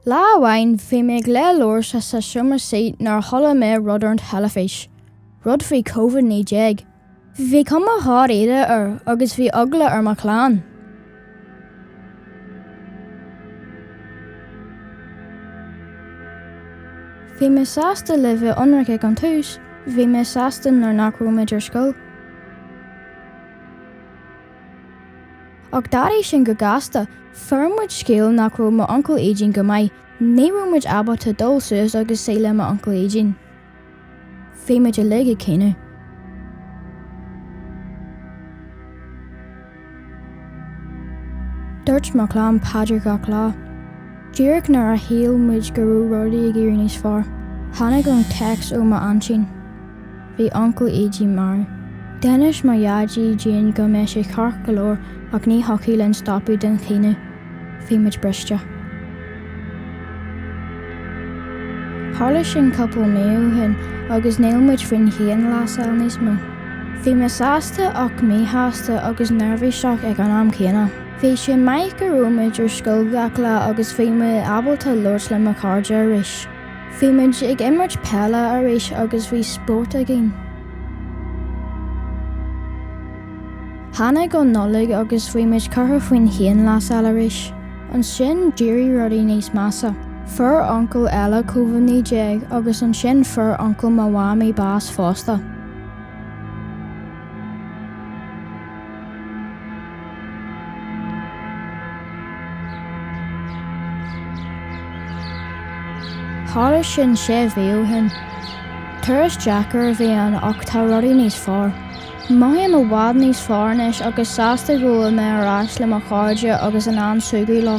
Lá amháin bhí mé ag léamh leabhair sa sa seomra suí nuair a chuala mé rud ar an teilifís, rud faoi Covid 19. Bhí cuma dháiríre air agus bhí eagla ar mo chlann. Bhí mé sásta le bheith ionraic ag an tús, bhí mé sásta nuair nach raibh mé ar scoil. Ach d'athraigh sin go gasta, fuair muid scéal nach raibh m'uncail Éidín go maith, ní raibh muid ábalta dul suas agus suí le m'uncail Éidín. Bhí muid uilig ag caoineadh. Dúirt mo chlann paidir gach lá. Díreach nuair a shíl muid go raibh rudaí ag éirí níos fearr, tháinig an téacs ó m'aintín. Bhí Uncail Éidín marbh. D'inis mo dhaidí dúinn go mbeadh sé ceart go leor ach ní thiocfadh linn stopadh den chaoineadh. Bhí muid briste. Tharla sin cúpla mí ó shin agus níl muid faoin chianghlasáil níos mó. Bhí mé sásta ach míshásta agus neirbhíseach ag an am céanna. Bhí sé maith go raibh muid ar scoil gach lá agus bhí mé ábalta labhairt le mo chairde arís. Bhí muid ag imirt peile arís agus bhí spórt againn. Tháinig an Nollaig agus bhí muid curtha faoin chianghlasáil arís. Ansin d'éirigh rudaí níos measa. Fuair uncail eile Covid-19 agus ansin fuair uncail mo mhámaí bás fosta. Tharla sin sé mhí ó shin. Turas deacair a bhí ann ach tá rudaí níos fearr. Mothaím i bhfad níos fearr anois agus sásta go bhfuil mé ar ais le mo chairde agus in ann súgradh leo.